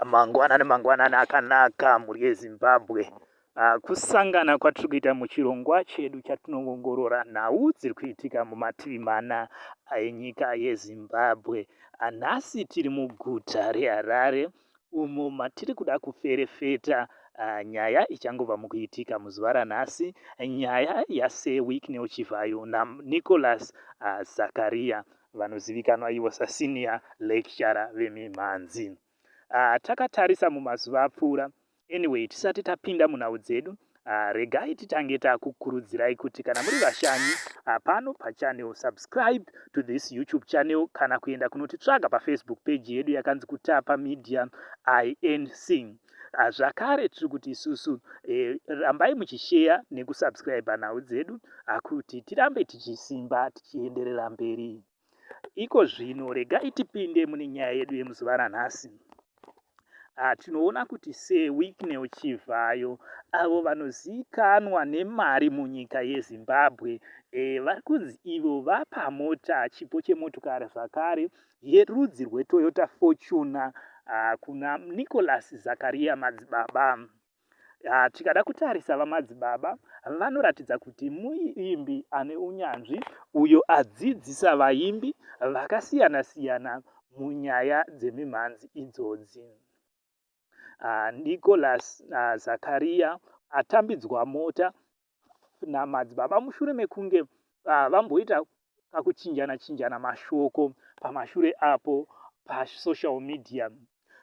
Mangwanani mangwanani akanaka mhuri yeZimbabwe. Ah, kusangana kwatiri kuita muchirongwa chedu chatinoongorora nhau dziri kuitika mumativi mana enyika yezimbabwe ah, nhasi tiri muguta reharare umo matiri kuda kuferefeta ah, nyaya ichangobva mukuitika muzuva ranhasi nyaya yasir wicknel chivhayo nanicolas zakariya vanozivikanwa ivo saSenior Lecturer vemimhanzi. Ah, takatarisa mumazuva apfuura. Anyway, tisati tapinda munhau dzedu, ah, regai titange takukurudzirai kuti kana muri vashanyi ah, pano pachannel, subscribe to this YouTube channel kana kuenda kunotitsvaga paFacebook page yedu yakanzi Kutapa Media INC. Ah, zvakare tiri kuti isusu eh, rambai muchisheya nekusubscribe nhau dzedu ah, kuti tirambe tichisimba tichienderera mberi iko zvino regai tipinde mune nyaya yedu yemuzuva ranhasi ah, tinoona kuti sewiknel chivhayo avo vanozivikanwa nemari munyika yezimbabwe eh, vari kunzi ivo vapa mota chipo chemotokari zvakare yerudzi rweToyota Fortuner ah, kuna Nicholas Zakaria Madzibaba. Ah, tikada kutarisa VaMadzibaba vanoratidza kuti muimbi ane unyanzvi uyo adzidzisa vaimbi vakasiyana-siyana munyaya dzemimhanzi idzodzi. Nicholas Zakaria atambidzwa mota namadzibaba mushure mekunge vamboita kakuchinjana chinjana mashoko pamashure apo pasocial media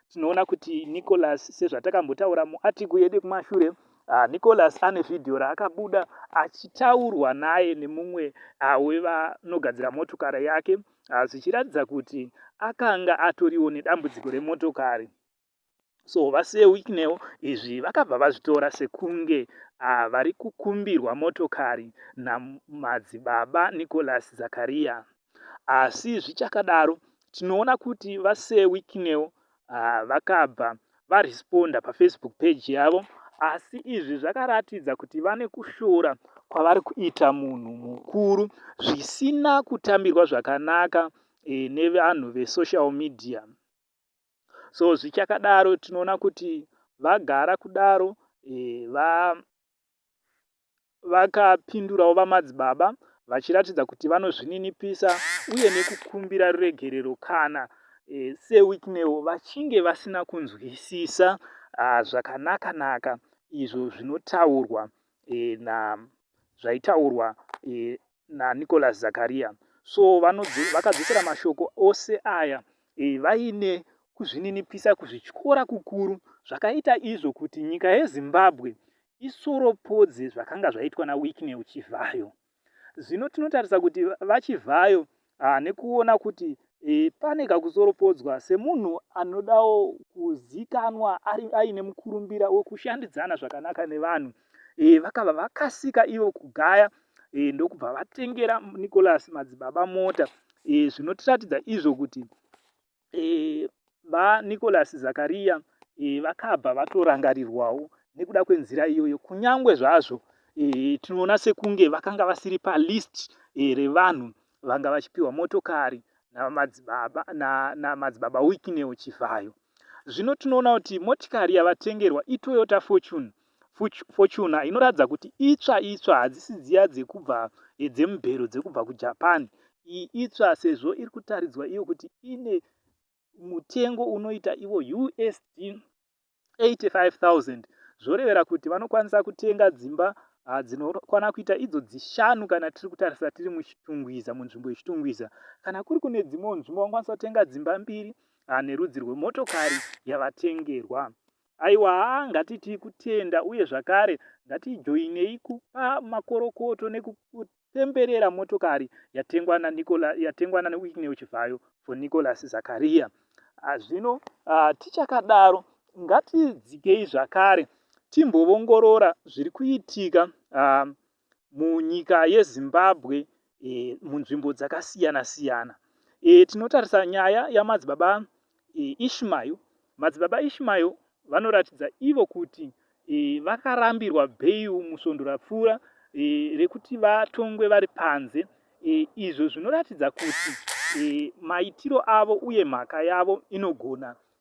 tinoona kuti nicholas sezvatakambotaura muatiku yedu kumashure uh, nicholas ane vhidhiyo raakabuda achitaurwa naye nemumwe uh, wevanogadzira motokari yake zvichiratidza kuti akanga atoriwo nedambudziko remotokari so vasewicknel izvi vakabva vazvitora sekunge uh, vari kukumbirwa motokari namadzibaba nicolas zakariya asi zvichakadaro tinoona kuti vasewicknel uh, vakabva varesponda pafacebook page yavo asi izvi zvakaratidza kuti vane kushora kwavari kuita munhu mukuru zvisina kutambirwa zvakanaka e, nevanhu vesocial media so zvichakadaro tinoona kuti vagara kudaro e, va vakapindurawo VaMadzibaba vachiratidza kuti vanozvininipisa uye nekukumbira ruregerero kana e, seWicknell vachinge vasina kunzwisisa ah, zvakanaka-naka izvo zvinotaurwa e, na zvaitaurwa e, naNicholas Zakaria so vanodze, vakadzosera mashoko ose aya e, vaine kuzvininipisa kuzvityora kukuru zvakaita izvo kuti nyika yeZimbabwe isoropodze zvakanga zvaitwa naWicknell Chivhayo. Zvino tinotarisa kuti VaChivhayo ah, nekuona kuti e, pane kakusoropodzwa semunhu anodawo kuzikanwa ari aine mukurumbira wekushandidzana zvakanaka nevanhu e, vakava vakasika ivo kugaya e, ndokubva vatengera nicolas madzibaba mota e, zvinotiratidza izvo kuti e, ba Nicholas Zakaria e, vakabva vatorangarirwawo nekuda kwenzira iyoyo kunyangwe zvazvo e, tinoona sekunge vakanga vasiri palist e, revanhu vanga vachipiwa motokari namadzibaba na, na, na wikineo chivhayo zvino tinoona kuti motikari yavatengerwa itoyota fortune Fortuna inoratidza kuti itsva itsva hadzisi dziya dzekubva eh, dzemubhero dzekubva kujapan iyi itsva sezvo iri kutaridzwa iyo kuti ine mutengo unoita ivo usd 85000 zvorevera kuti vanokwanisa kutenga dzimba ah, dzinokwana kuita idzo dzishanu kana tiri kutarisa tiri muchitungwiza munzvimbo yechitungwiza kana kuri kune dzimwewo nzvimbo vanokwanisa kutenga dzimba mbiri ah, nerudzi rwemotokari yavatengerwa Aiwa haa ngatitii kutenda uye zvakare ngatijoinei kupa makorokoto nekutemberera motokari yatengwa naNicola, yatengwa naWicknell Chivhayo for Nicholas Zakaria. Ah, zvino ah, tichakadaro ngatidzikei zvakare timbovongorora zviri kuitika ah, munyika yeZimbabwe e, munzvimbo dzakasiyana siyana. E, tinotarisa nyaya yamadzibaba e, Ishmael. Madzibaba Ishmael vanoratidza ivo kuti e, vakarambirwa bheiu musvondo rapfuura e, rekuti vatongwe vari panze e, izvo zvinoratidza kuti e, maitiro avo uye mhaka yavo inogona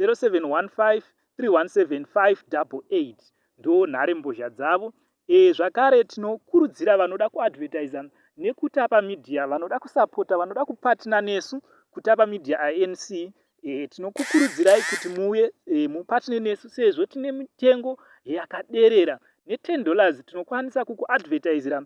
0715317588 ndo nhare mbozha dzavo e zvakare tino kurudzira vanoda ku advertisa nekutapa media vanoda kusapota vanoda kupatna nesu kutapa media anc e eh, tinokukurudzirai kuti muuye e, eh, mupatne nesu sezvo tine mitengo yakaderera ne 10 dollars tinokwanisa kuku advertisira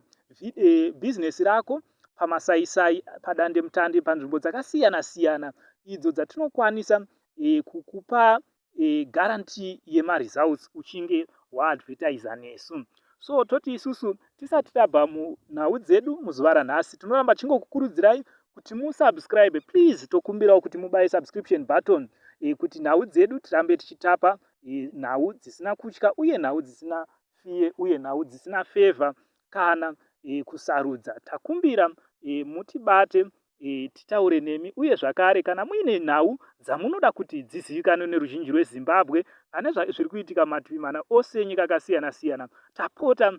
e, business rako pamasaisai, padandemutande, panzvimbo dzakasiyana siyana idzo dzatinokwanisa e, kukupa e, guarantee yemaresults uchinge waadvertiser nesu so toti isusu tisati tabva munhau dzedu muzuva ranhasi tinoramba tichingokukurudzirai kuti musubscribe please tokumbirawo kuti mubaye subscription button e, kuti nhau dzedu tirambe tichitapa e, nhau dzisina kutya uye nhau dzisina fiye uye nhau dzisina favor kana e, kusarudza. Takumbira e, mutibate e, titaure nemi uye zvakare kana muine nhau dzamunoda kuti dzizivikanwe neruzhinji rweZimbabwe pane zviri kuitika mativi mana ose enyika akasiyana siyana tapota